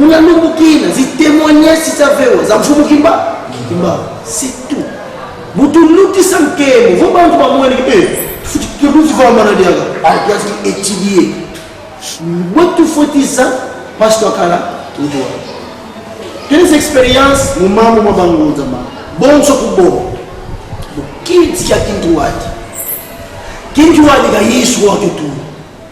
Muna ndugu kina zi témoignages za vewa za mfumu kimba kimba c'est tout mutu luki sa mkemo vo bantu ba mwene ke eh futi ke buti va mana diaga ah ya fi étudier wetu foti za pasteur kala ndwa quelles expériences mu mamu ma bangu za ma bonso ku bo bu kinti ya kintu wati kintu wati ga yesu wa tutu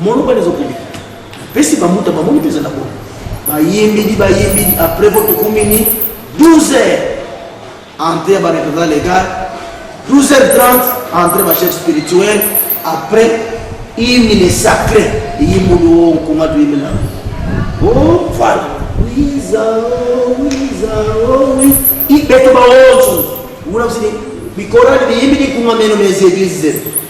Moloba les occupés. Pesi ba muta ba moni pesa na bobo. Ba yembi di ba yembi di après votre commune 12 heures. Entre ba représentants légal 12h30 entre ba chef spirituel après hymne les sacré yimbo do kuma do yimela. Oh voilà. Wiza oh wiza oh wiza. Ibeto ba otu. Wuna msini. Bikorali biyimbi di kuma meno mes églises.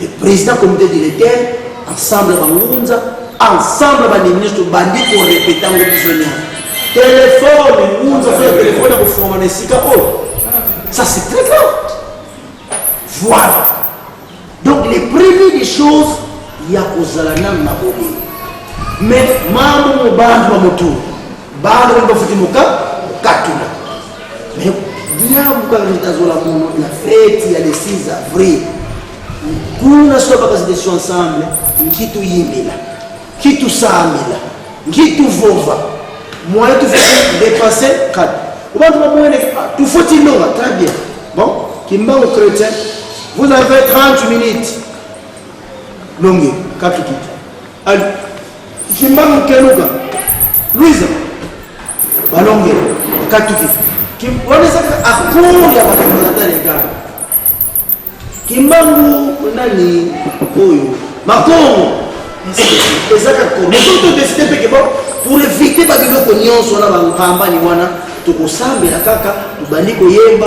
Le president comité directeur ensemble bangunza ensemble bandimi nyonso tobandi korepete yango biso nyonso telefone ngunza soki telefone ya kofungama na esika oyo oh, ça c'est très grave voilà donc les premiers des choses ya kozala nanu na bolingo mais mambo mobanzi wa motulu Bana ndio bafuti muka katula. Mais bien buka nitazola mono na fête ya le 6 avril. Kuna sio baka zidesho ensemble nkitu yimbela. Kitu samela. Nkitu vova. Moi tu fais dépasser kat. Obantu ba moyene tu faut tilonga très bien. Bon, kimbango chrétien, vous avez 30 minutes. Longue, katu kitu. Allez, Kimbangu Keluka, Louisa, Balonge, Katuki. Kim, wana ezaka accord ya bafondateur ya gare. Kimbangu nani oyo Makongo ezaka accord. Mais soki todeside mpe ke bon pour éviter babiloko nyonso wana bankambani wana tokosambela kaka tobandi koyemba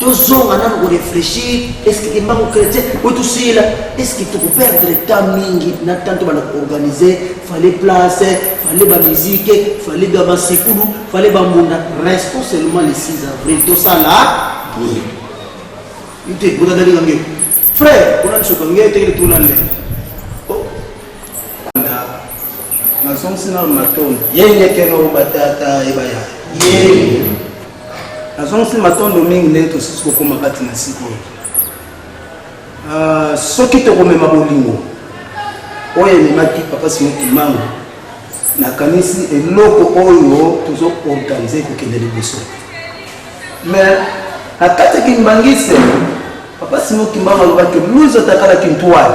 tozonga nanu ko reflechir eske kimbangu chrétien oyo tosila eske tokoperdre temps mingi na temps tobanda koorganize fale place fale bamusike fale ba masekulu fale bambunda restons seulement le 6 avril tosala boye ite botandalinga nge frère ona bisoka nge tekele tolale nazongisi nano matondo yengekeno batata ebaya ye nazongisi matondo mingi ndenge tosusu kokoma kati na sika oyo ah, soki tokomema bolingo oyo ememaki papa simo kimango nakanisi eloko oyo tozo organize kokende liboso me na kati ya kimbangiste papa simo kimango alobaki luzo takalaki ntwale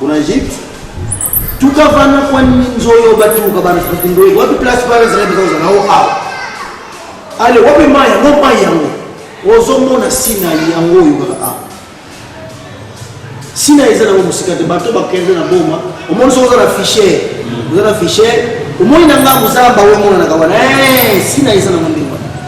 Kuna Egypte tuka vana kwa nzoyo batuka bana tukindoye wapi place bana zala bizo na o a ale wapi maya no maya yango ozo mona sina yango yo kaka a sina eza na musika te bato bakende na boma omoni soki oza na fichier oza na fichier omoni na ngambo zamba oyo emonanaka wana eh, sina eza na mondingo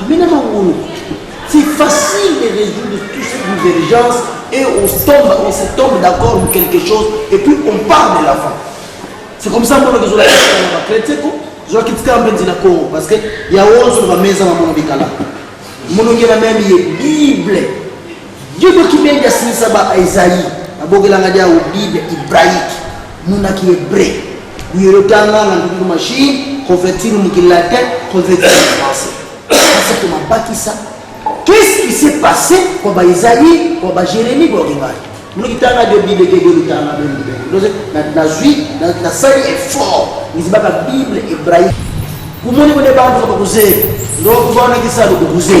Amina Mangolo, c'est facile de résoudre tout ce qui nous urgence et on se tombe, on se tombe d'accord de quelque chose et puis on part de l'avant. C'est comme ça mbono tozola na bakretien ko zozalaki tika mpenzi na congo parce que ya ozo na bameza na mono bikala monongela meme ye bible Diego Kibengi asilisa ba Esaïe abokelanga dia o Bible hébraïque muna ki hébreu buyelo tanga na nduku machine convertir mu ki latin convertir en français kasi to mabakisa qu'est-ce qui s'est passé kwa ba Esaïe kwa ba Jérémie kwa Kibali muna kitanga de Bible ke de tanga ben ben donc na na zui na na sali effort nizibaka Bible hébraïque kumoni ko de bantu ko kuze ndo ko bona kisalo ko kuze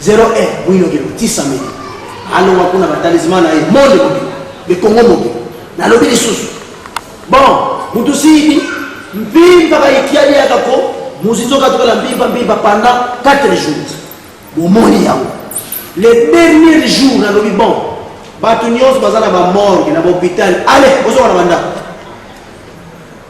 Zero e mwino ke lotisa meli alonga kuna batalisma na ye monde moke le congo moke nalobi lisusu bon mutu siyibi mpimpa bayikiani yaka ko mozizo katukala mpimpa mpimpa pendant 4 jours bomoni yango le dernier jour nalobi bon bato nyonso baza na bamorge na bahopital ale ozonga na bandako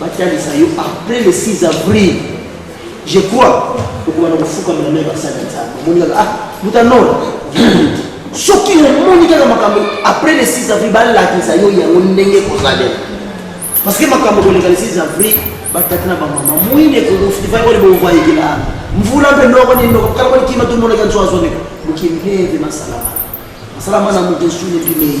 batalisa yo après le 6 avril je crois okobana kofukamela me basali ya nzambe omoni kaka ah mutanora soki omoni kaka makambo après le 6 avril balakisa yo yango ndenge kozalela parce que makambo koleka le 6 avril batata na bamama moyini ekofai koni bomvwa ekela mvula mpe noko nini noko kala koni kima tomonaka nso azoneka mokili neve masalama masalama na moto esuni mpimei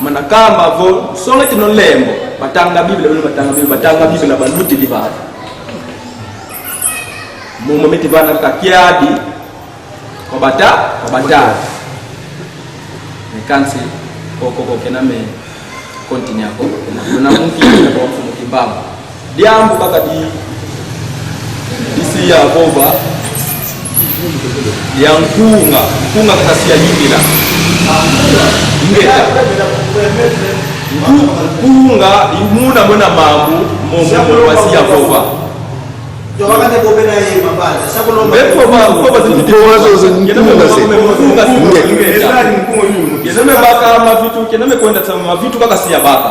manakamba vo songa tino lembo batanga biblia bino batanga biblia batanga biblia baluti di bana momo miti bana kaka kiadi kobata kobata mekansi kokokokena me kontinyako na muki na bomfumu kimbango Diambu kaka di isi ya boba ya nkunga nkunga kasi ya yingila ngeta nkunga imuna mona mambu momo wasi ya boba mavitu kaka siya baka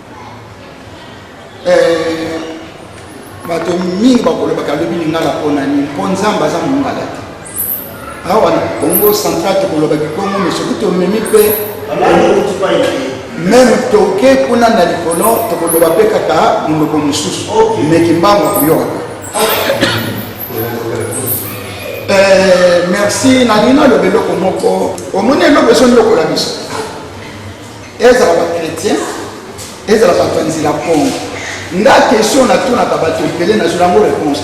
eh, bato mingi bakolobaka lobi lingala mpo na nini mpo nzambe aza mongala te awa na congo central tokoloba kikongo me soki tomemi mpe meme toke kuna na likolo tokoloba mpe kaka monoko mosusu me kimbango koyokaka eh, merci nalingi naloba eloko moko omoni eloko ezo ndokola biso ezala ba chrétien ezala bato ya nzela kongo nga question natunaka bato ebele nazwela yango réponse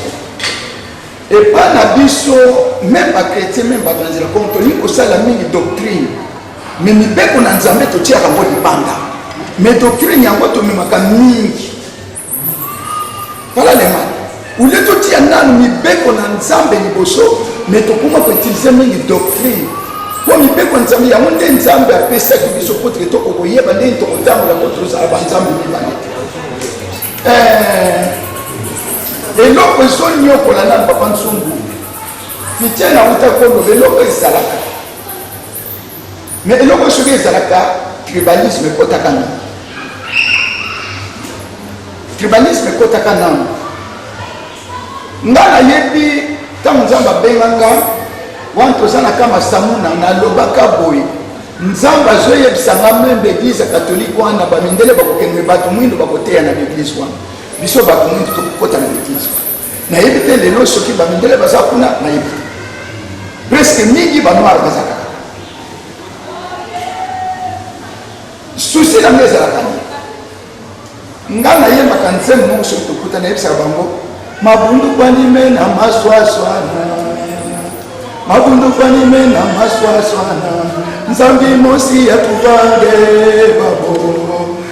te epa na biso meme bachrétien meme bato ya nzela kongo tolingi kosala mingi doctrine me mibeko na nzambe totiaka yango libanda me doctrine yango tomemaka mingi Voilà les mal. Au lieu de dire nanu mibeko na Nzambe liboso, mais tokoma ko utiliser mingi doctrine. Po mibeko Nzambe yango nde Nzambe apesaki biso po te toko koyeba nde tokotambola po tozala ba Nzambe mibale. Eh, eloko ezoniokola na papa nsumbu fitiana uta kolobela eloko ezalaka mais eloko soki ezalaka tribalisme ekotaka nano tribalisme ekotaka nano nga nayebi ntango nzambe abengaka wana toza na kama samuna nalobaka boye nzambe azoyebisa nga meme baeglise ya katolike wana bamindele bakokende bato mwindo bakoteya na baeglise wana biso bato mwindo tokokota na baeglise wana nayebi te lelo soki bamindele baza kuna nayebi te preske mingi banoire baza kaka susi na ngai ezalaka nini ngai nayembaka nzembo moko soki tokuta nayebisaka bango mabundu kwanime na maswaswana mabundu kwanime na maswaswana nzambi mosi ya tuvande babo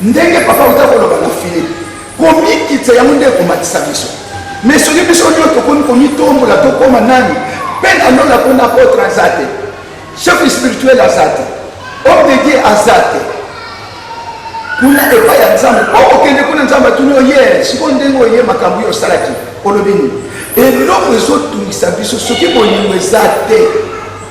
Ndenge papa auta koloba na Philippe, komikitisa yango nde ekomatisa biso. Me soki biso nio tokomi komitombola tokoma nani mpe na lola mpo na apotre aza te, chef spirituel aza te, homme de Dieu aza te kuna epai ya nzambe mpo okende kuna nzambe atuni oye sikoyo ndenge oye makambo oyo osalaki olobi nini eloko ezotungisa biso soki bolingo eza te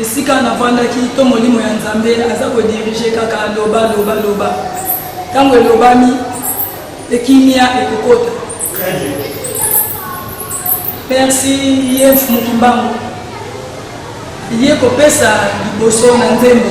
Esika navandaki to molimo ya Nzambe aza ko diriger kaka loba loba loba. Tango elobami ekimia ekokota. Très bien. Merci Yves Mukimbangu. Ye kopesa liboso na nzembo.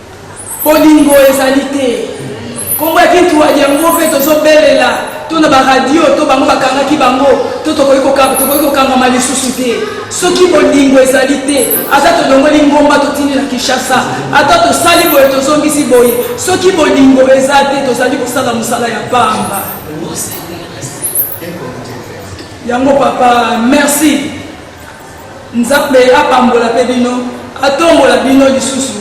Bolingo ezali te. Kombo ya Kin Tuadi yango pe tozo belela to na ba radio to bango bakangaki bango to tokoki kokanga tokoki kokangama lisusu te. Soki bolingo ezali te ata tolongoli ngomba totindi na Kinshasa ata tosali boye tozongisi boye soki bolingo eza te tozali kosala mosala ya pamba. Yango papa merci. Nzambe apambola pe bino atombola bino lisusu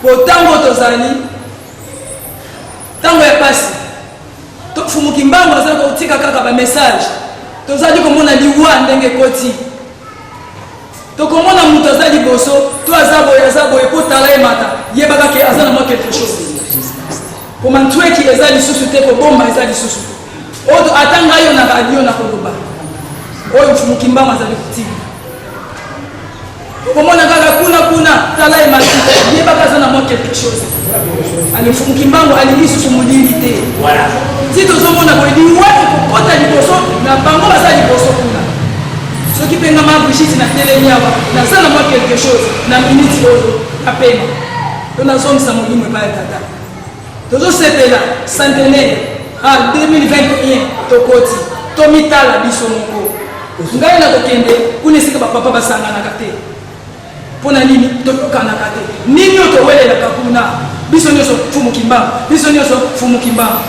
po tango tozali tango ya pasi tofumuki mbango azali kotika kaka ba message tozali komona liwa ndenge ekoti tokomona moto aza liboso to aza boye aza boye po tala ye mata yebaka ke aza na mwa quelque chose komantweki eza lisusu te kobomba eza lisusu te Oyo ata ngai yo na radio na koloba oyo mfumu Kimbangu azali kotika okomona kaka kuna kuna tala ye mati yebaka aza na mwa quelque chose ale mfumu Kimbangu alingi susu molili te ti tozomona boye liwa ekokota liboso na bango baza liboso kuna soki mpe ngama Brigitte na telemi awa naza na mwa quelque chose na minute oyo apema to nazongisa molimo epai ya tata Tozo sepela centenaire ah 2021 tokoti tomitala biso moko ngai na kokende kuna esika bapapa basanganaka te mpo na nini toyokanaka te nini oyo towelelaka kuna biso nyonso fumukimbangu biso nyonso fumukimbangu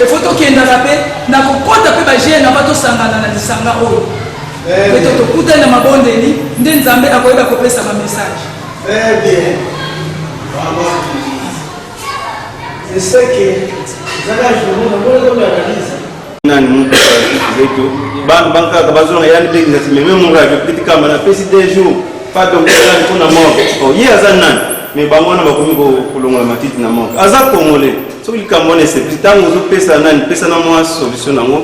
efo tokendaka mpe na kokota mpe bagene na ba tosangana na lisanga oyo mpe tokutani na mabondeli nde nzambe akoyeba kopesa bamessage Très bien. Bravo à tous. Je sais que dans la journée, on a beaucoup d'analyse. nani mutu zetu bana bankaka bazonga yani mpe ngati meme muradio peti kamba napesi deux jours pas donc ezali mpo na morgue o ye aza nani mais bango wana bakomi kolongola matiti na morgue aza congolais soki likambo wana esepeli ntango ozopesa nani pesa na mwa solution nango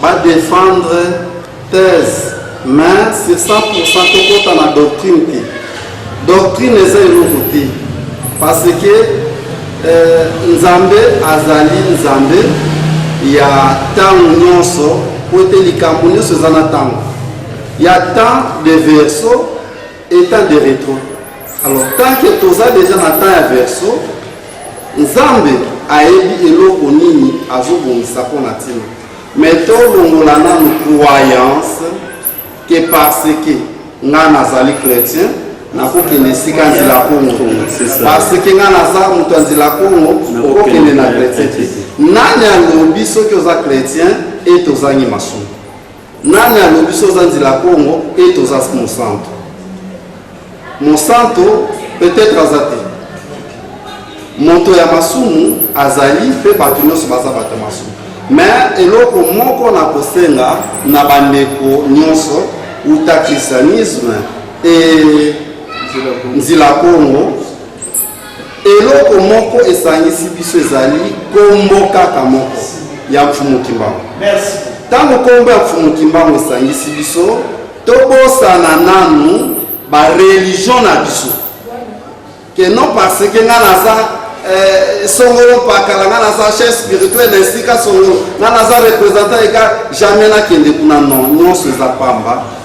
Ba defendre thèse mais sur 100% tokota na doctrine te. Doctrine eza eloko te parce que euh, Nzambe azali Nzambe ya ntango nyonso mpo ete likambo nyonso eza na ntango ya temps de verso Etat de retro. Alors tant que toza deja na temps ya verso, Nzambe ayebi eloko nini azobongisa mpo na ntina. Mais tolongola nanu croyance que parce que nga nazali chrétien nakokende esika nzela kongo parce que nga naza moto ya nzela kongo okokende na chrétien te nani alobi soki oza chrétien ete ozangi masumu Nani alobi so oza nzela Congo et toza mosanto? Mosanto peut-être aza te. Moto ya masumu azali pe bato nyonso baza bato ya masumu. Mais eloko moko na kosenga na bandeko nyonso uta christianisme et nzila Congo Eloko moko esangisi biso ezali kombo kaka moko ya Mfumu Kimbangu. Ntango kombo ya Mfumu Kimbangu esangisi biso, tobosana nanu ba religion na biso que non parce que nga naza eh, songolo pakala nga naza chef spirituel na esika songolo nga naza représentant eka jamais nakende kuna non nyonso eza pamba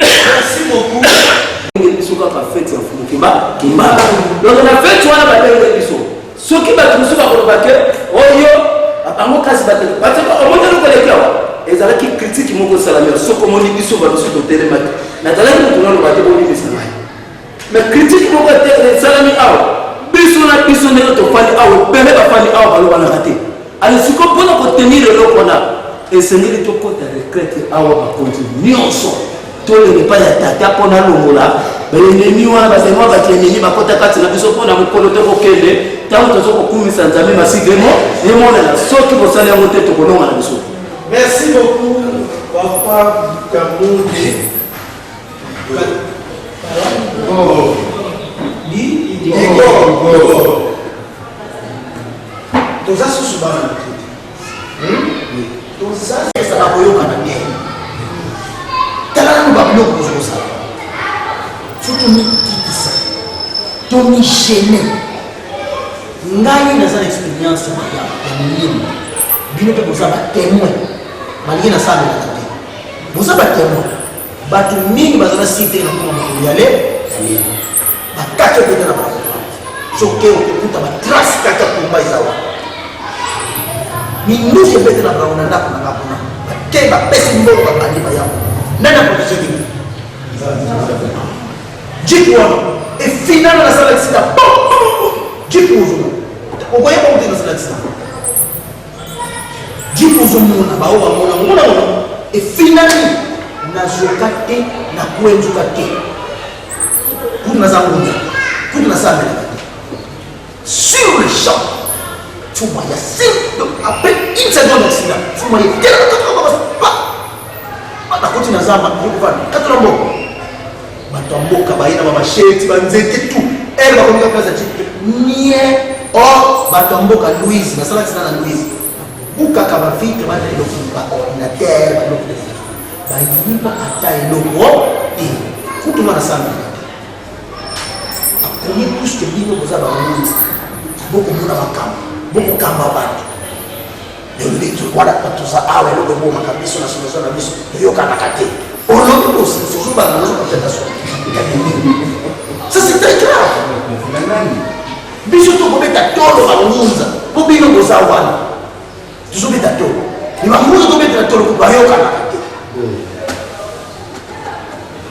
Merci beaucoup. Nde biso kaka fete ya mfumu kimba kimba. Donc na fete wana babenge biso. Soki bato mosusu bakoloba ke oyo oh, bango kasi bato bato omoni eloko eleki awa ezalaki kritike moko esalami soko omoni biso babiso totelemaki nazalaki moto naloba te bolimisa ngai Mais critique moko esalami awa biso na biso ndenge tofandi awa ebele bafandi awa balobanaka te ale siko mpona kotenir eloko wana esengeli tokota retraite awa bakonzi nyonso tolele epai ya tata mpo nalongola baenemi wana bazali mwa bato enemi bakota kati na biso mpo na mokolo tokokende ntango tozo kokumisa nzambe masidemo emonana soki bosali yango te tokolonga na biso merci beaucoup papa kamode toza susu bana tozasaka koyokana te tala nanu babiloko ozosala fo tomikitisa tomigene ngai naza na experience ya molimo bino mpe boza batemoin balingi nasalelaka te boza batemoin Bato mingi baza na site na koma makoliale bakati okende na bango soki okokuta batrace kati ya komba eza wana minduki ebete na bango na ndako na bango te bapesi mbongo babandi bayango nani akolisa nini jipe wana efinana nasala kisika jipe ozona okoyeba kuti nasala kisika Jim ozomona baoyo bamona omona mona efinani nazoka te na kuenzuka te kutu naza ngunza kutu nasambelaka te sur le champ fuma ya sim donc après une seconde accident fuma ye telaka nakoti na zamba yokofana katona mboko Bato ya mboka baye na bamasheti, banzete tu ele bakomi kaka mpasi ati nie o oh, bato ya mboka Louise nasala ntina na Louise bukaka bavitre bana eloko baordinatere babiloko defi bayiba ata eloko te kutu mwana sanga akomi puske bino boza bamoyi bokomona makambo bokokamba bato Yolobi tu wana kwa tuza awe lobe bo makabiso na solo na biso yoka na kate. Olobi bo sisi solo ba na solo tena solo. Ça c'est très grave. Biso to kobeta tolo ba ngunza. Bo bino boza wana. Tuzo beta tolo. Ni ba ngunza to beta tolo ba yoka na kate.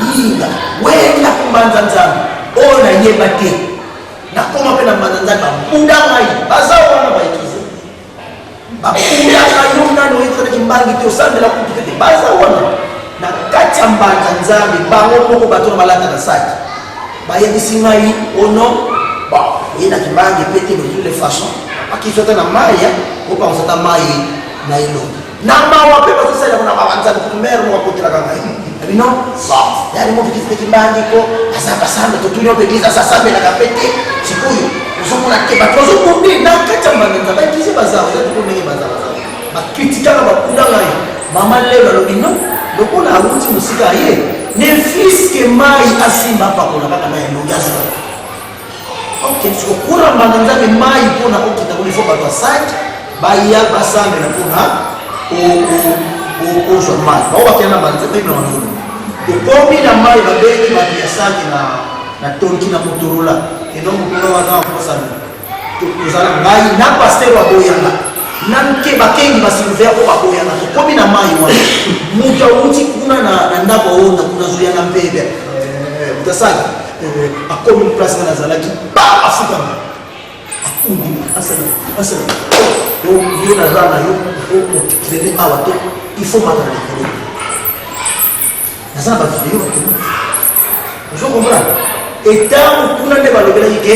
Linga wenge na kumbanza nzambe oyo nayeba te nakoma mpe na mbanza nzambe babuda ngai baza wana baikize babudaka yo nani oyekolaki mbangi te osambela kutu te baza wana na kati ya mbanza nzambe bango moko bato na balata na saki bayebisi ngai ono bon oye na kimbangi mpe te de toutes les façons akiswata na mai opanzata mai na elongi na mawa mpe bazosalela mona babanzani kumere moko akotelaka ngai na bino sort yani moto kifuteki mbangi ko aza basanda totuni oyo eglise aza asambelaka mpe te sikoyo ozomona te bato bazokomi na kati ya mbanda nzambe eglise bazala oza toko ndenge bazala bakritikaka bakunda ngai mama lelo alobi no lokola awuti mosika ye ne fiske mai asimba apakola kaka na elongi azala okendisi kokura mbanga nzambe mai mpo na kokita kolifo bato ya sante baya basambela mpo na kozwa mai bao bakenda na banzambe na banzambe tokomi na mai babengi bato ya sante na na tonki na motorola eno mokolo wana akosana tozala ngai na paster baboyanga na mke bakengi basilver mpo baboyanga tokomi na mai wana moto awuti kuna na ndako aonda kuna zuya na mpebe eh, eh, eh, moto asali akomi place nga nazalaki ba afukama akundi asala asala yo naza na yo okende awa te il faut mata na likolo naza na bavideo bakoma ozo comprendre etango kuna nde balobelaki ke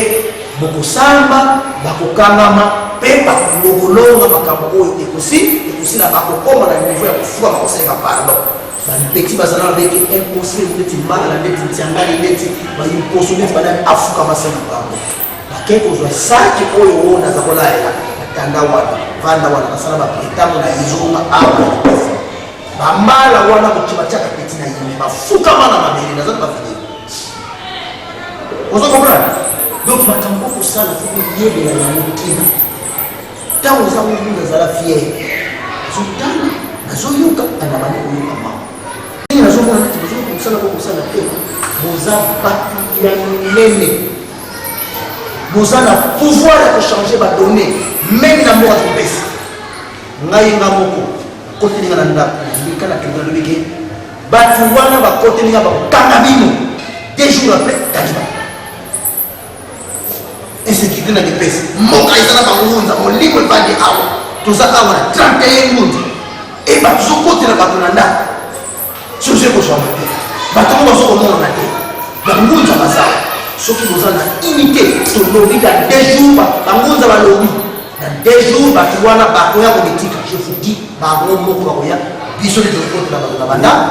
bokosamba bakokangama mpe bakolongolonga makambo oyo ekosi ekosila bakokoma na niveau ya kofuka bakosalela pardon Ba petit bazana ba bete impossible neti mala neti ntiangani neti ba imposo neti ba nani afuka masana bango. Bake kozwa saki oyo oyo naza kolayela batanda wana vanda wana basala ba pretango na izonga awa ba mala wana kokima tiaka petit na yime bafuka mana mabele naza na bavide ozo comprendre donc makambo okosala fo koyebela yango kina Ntango oza mutu nazala fier azotala azoyoka andamani koyoka mawa ndenge nazomona neti bozoki kosala ko kosala te boza bato ya minene boza na pouvoir ya kochange badonne meme na mboka topesa ngai nga moko kotelinga na ndako lika na kende nalobi ke bato wana bakotelinga bakanga bino deux jours après taliba insécurité na depese mboka eza na bangunza molimo ebandi awa toza awa na 31 ngunza e bato tozokotela bato na ndako soki ozo ekozwama te bato yango bazokomonana te bangunza baza soki boza na unité tolobi na deux jours bangunza balobi na deux jours bato wana bakoya komitika je vous dis bango moko bakoya biso nde tozokotela bato na bandako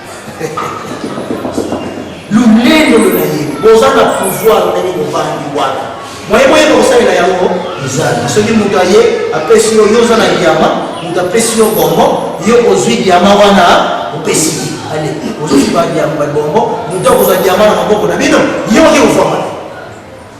lolendo lona ye boza na pouvoir ndenge bovandi wana moye boyeba kosalela yango ezali soki moto aye apesi yo yo oza na diama moto apesi yo bongo yo ozwi diama wana opesi ye ale ozozwi badiama babongo moto akozwa diama na maboko na bino ye oke kofama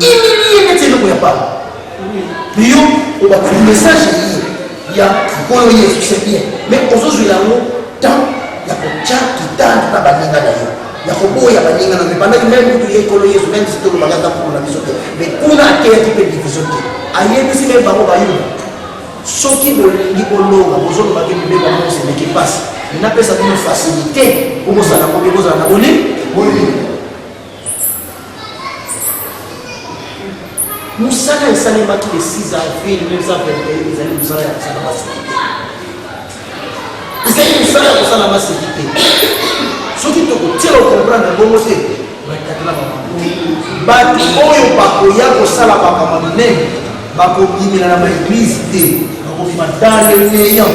Humilier neti eloko ya pamba. Mais yo obakali message eye ya nkolo yesu c'est bien mais ozozwela yango temps ya kotya kitanda na baninga na yo ya koboya baninga na yo ebandaki meme kutu ye nkolo yesu meme si tolobaki ata nkolo na biso te mais kuna ateyaki mpe division te ayebisi meme bango bayuda soki bolingi bolonga bozolobaki mibeko yango osemeki mpasi napesa bino facilité okozala kobe kozala na bolingi mosala esalemaki le 6 avril 1921 ezali mosala ya kosala maseki te ezali mosala ya kosala maseki te soki tokotia okomprendre bongo te batatela bamaboi bato oyo bakoya kosala makambo minene bakobimela na baeglize te bakobima dans le néant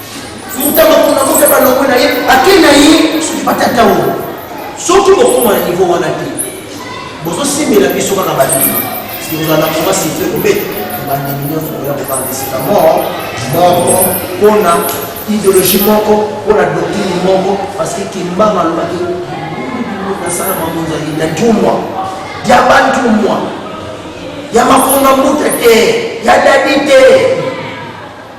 Muta makona muta balongo na ye ake na ye soki batata oyo soki bokoma na niveau wana te bozosimbela biso kaka badini sikozala na koma site kobeta bandimi nyonso koya kobanda esika moko moko mpona ideologie moko mpona doktrini moko parce que kimbanga alobaki nasala mamonzali na ntumwa ya bantumwa ya makonga mbuta te ya dadi te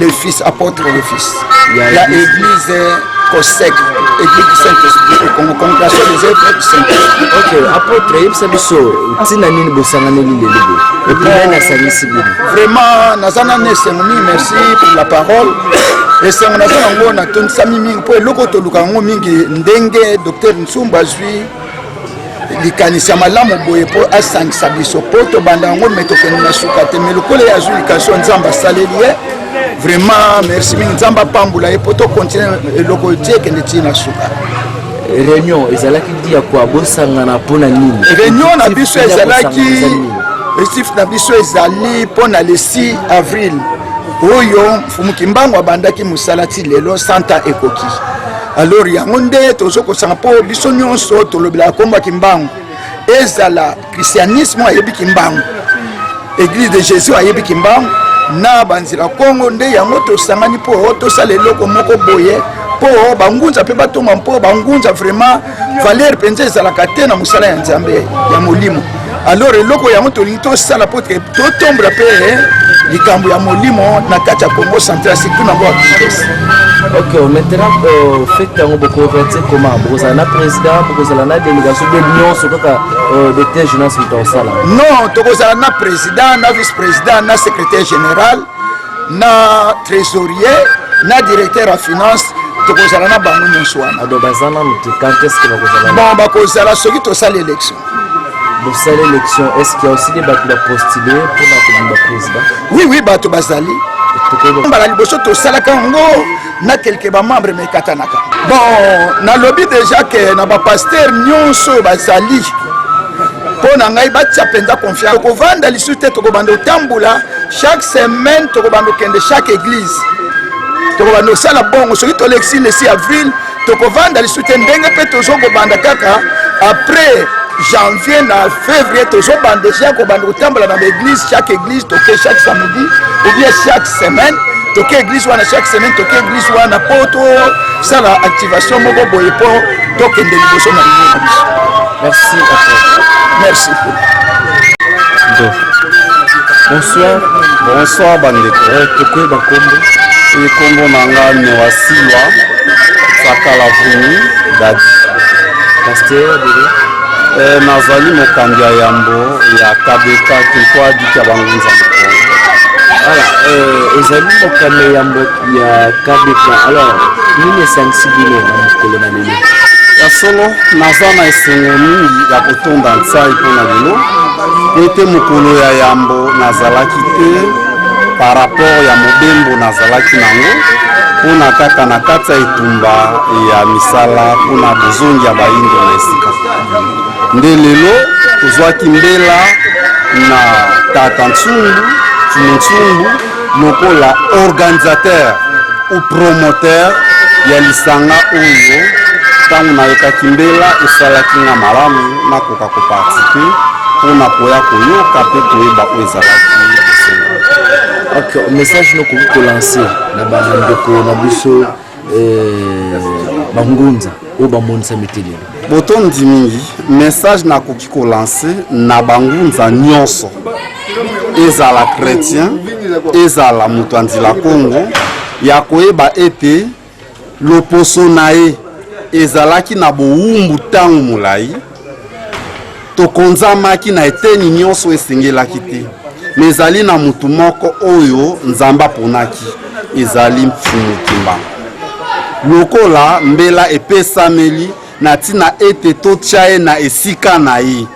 le fils apôtre le fils ya église cosec église du saint-esprit ekongo congregation des œuvres du saint-esprit ok apôtre yebisa biso ntina nini bosanganeli lelo boye epuis nani asangisi bino vraiment naza nani esengo mingi merci pour la parole esengo naza nango natondisami mingi mpo eloko toluka yango mingi ndenge docteur nsumba azwi likanisi ya malamu boye mpo asangisa biso mpo tobanda yango me tokende na suka te me lokola ye azwi likasio nzambe asaleli ye vraiment merci mingi nzambe apambola ye mpo tokontinue eloko ti ekende ti na suka réunion ezalaki dia kua bosangana mpo na nini réunion na biso ezalaki estif na biso ezali mpo na le 6 avril oyo mfumu kimbangu abandaki mosala ti lelo santa ekoki alors yango nde tozo kosanga mpo biso nyonso tolobelaka nkombo ya kimbangu ezala christianisme ayebi kimbangu église de jésus ayebi kimbangu na banzela kongo nde yango tosangani mpo tosala eloko moko boye mpo bangunza mpe batonga mpo bangunza vraiment valeur mpenza ezalaka te na mosala ya nzambe ya molimo alors eloko yango tolingi tosala po te totombola mpe eh, likambo ya molimo na kati ya congo central surtout na bord ok maintenant euh, fete yango bokoverti koma bokozala na président bokozala na délégation be nyonso kaka euh, de te jeunesse moto akosala non tokozala na président na vice président na secrétaire général na trésorier na directeur ya finance tokozala na bango nyonso wana ado baza nanu te quand est ce que bakozala bon bakozala soki tosali élection bosali élection est ce qu'il y a aussi des bato bapostule mpona kobima président oui oui bato bazali mbala liboso tosalaka yango na kelke bamembre mekatanaka bon nalobi deja ke na bapaster nyonso oyo bazali mpo na ngai batya mpenza confiance tokovanda lisusu te tokobanda kotambola chaque semaine tokobanda kokende chaque église tokobanda kosala bongo soki tolekisi le 6 avril tokovanda lisusu te ndenge mpe tozokobanda kaka après janvier na février tozobanda deja kobanda kotambola na baeglise chaque église toke chaque samedi ou bien chaque semaine toke eglise wana chaque semaine toke eglise wana mpo tosala activation moko boye mpo tokende liboso na limo na biso merci merci bonsoir bonsoir bandeko eh, tokoyeba nkombo ekombo na nga noasiwa sakalavuni dadi pasteur eh, nazali mokambi ya yambo ya kabeka kekwa dika bangunza voilà euh, ezali mokano ya ya kabeka alors nini esangisi bino na mokolo na lelo ya solo naza na esengo mingi ya kotonda nsai mpo na lelo ete mokolo ya yambo nazalaki te par rapport ya mobembo nazalaki nango mpona kaka na kati ya etumba ya misala mpona bozongi ya bayindo na esika nde lelo tozwaki mbela na tata nsumbu nsumbu lokola organisateur ou promoteur ya lisanga oyo ntango nayokaki mbela esalaki nga malamu nakoka koparticipe mpo na koya koyoka mpe koyeba oyo ezalaki ok message nokoki kolanse na bandeko na biso Eh, bangunza oyo bamonisami te lelo botondi mingi message nakoki kolanse na bangunza nyonso ezala chrétien ezala moto ya nzila kongo ya koyeba ete loposo na ye ezalaki na bowumbu ntango molai Tokonzamaki na eteni nyonso esengelaki te, me ezali na motu moko oyo Nzambe aponaki, ezali Mfumu Kimbangu. Lokola mbela epesameli na ntina ete totya ye na esika na ye,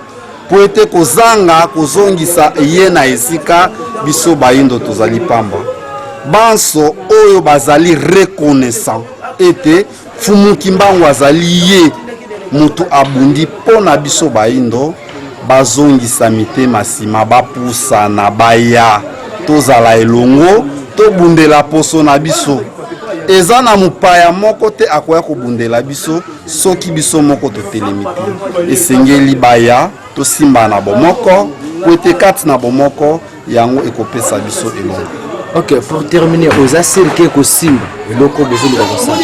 mpo ete kozanga kozongisa ye na esika, biso bayindo tozali pamba. Banso oyo bazali reconnaissant ete Fumu Kimbangu azali ye mutu abundi mpo na biso baindo bazongisa mitema nsima bapusana baya tozala elongo tobundela poso na biso eza na mopaya moko te akoya kobundela biso soki biso moko totelemi te esengeli baya tosimbana bomoko po ete kati na bomoko yango ekopesa biso elongo ok pour terminer oza sire ke ekosimba eloko bozoluka kosala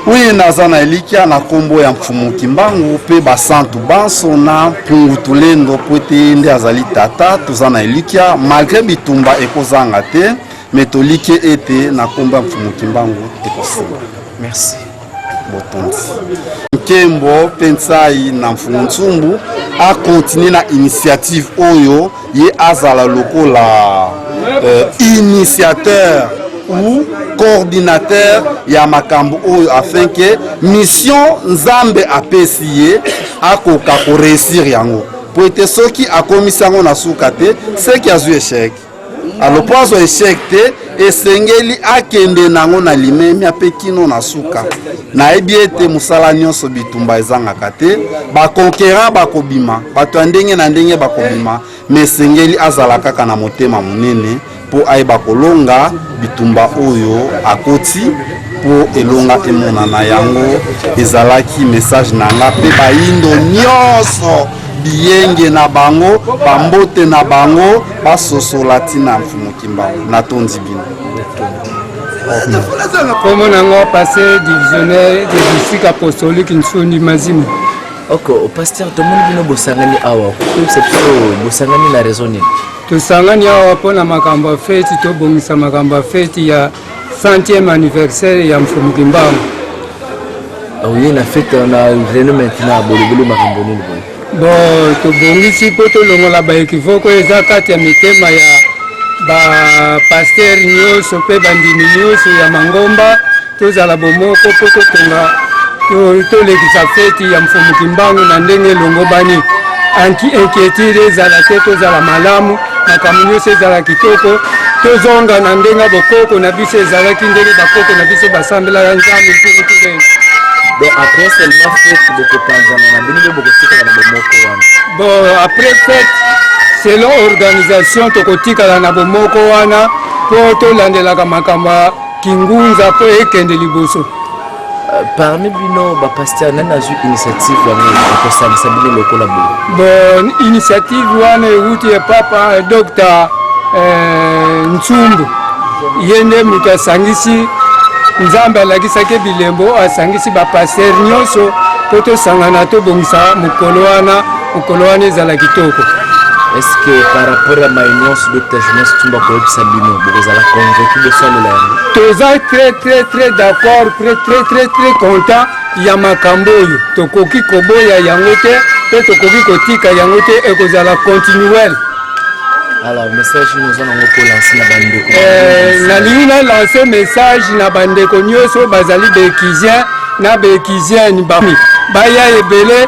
oyo naza na elikya na nkombo ya mfumu kimbangu mpe basantu banso na mpungu tulendo mpo ete ye nde azali tata toza na elikya malgre bitumba ekozanga te me toliki ete na nkombo ya mfumu kimbangu ekosimba merci botondi nkembo mpe nsai na mfumu nsumbu akontinue na initiative oyo ye azala lokola euh, initiateur ou coordinateur ya makambo oyo afin ke mission nzambe apesi ye akoka koreusir yango mpo ete soki akomisi yango na suka te seki azwi echec A lopanso echec te esengeli akende nango na limemia mpe kino na suka nayebi ete mosala nyonso bitumba ezangaka te baconquerant bakobima bato ya ndenge na ndenge bakobima ma esengeli azala kaka na motema monene mpo ayeba kolonga bitumba oyo akoti mpo elonga emonana yango ezalaki message na nga mpe bayindo nyonso biyenge na bango bambote na bango basosola ntina mfumu kimbangu natondi bino nkombo na yango passe divisionnaire de district apostolique nsondi mazima oko paster tomoni bino bosangani awa koyebisa biso bosangani na raison nini tosangani awa mpo na makambo ya feti tobongisa makambo ya feti ya Centième anniversaire ya Mfumu Kimbangu. Oye na fete na reno maintenant bolobeli makambo nini boye? Bon, tobongisi mpo tolongola baekivoko eza kati ya mitema ya bapastere nyonso mpe bandimi nyonso ya mangomba tozala bomoko mpo totonga tolekisa feti ya mfumu kimbangu na ndenge elongobani inquiétude ezala te tozala malamu makambo nyonso ezala kitoko tozonga na ndenge ya bokoko na biso ezalaki ndenge bakoko na biso basambelaka nzambe mpukutude donc après seulement fete bokopanzana na bino nde bokotikala na bomoko wana bon après fete selon organisation tokotikala na bomoko wana mpo tolandelaka makambo ya kingunza mpo ekende liboso Euh, parmi bino bapasteur nani azwi initiative yango ekosangisa bino lokola boye bon initiative wana ewuti ya papa euh, docteur euh, nsumbu ye nde moto asangisi nzambe alakisaki bilembo asangisi bapasteur nyonso mpo tosangana tobongisa mokolo wana mokolo wana ezala kitoko est-ce que par rapport à mai nyonso dr jonas tumba koyebisa bino bokozala convaincu bosalela yango toza très très très d'accord très très très très content ya makambo oyo tokoki koboya yango te mpe tokoki kotika yango te ekozala continuel alors message nini oza nango kolanse na bandeko eh, nalingi nalanse message na bandeko nyonso bazali bekisien na bekisienne baya ebele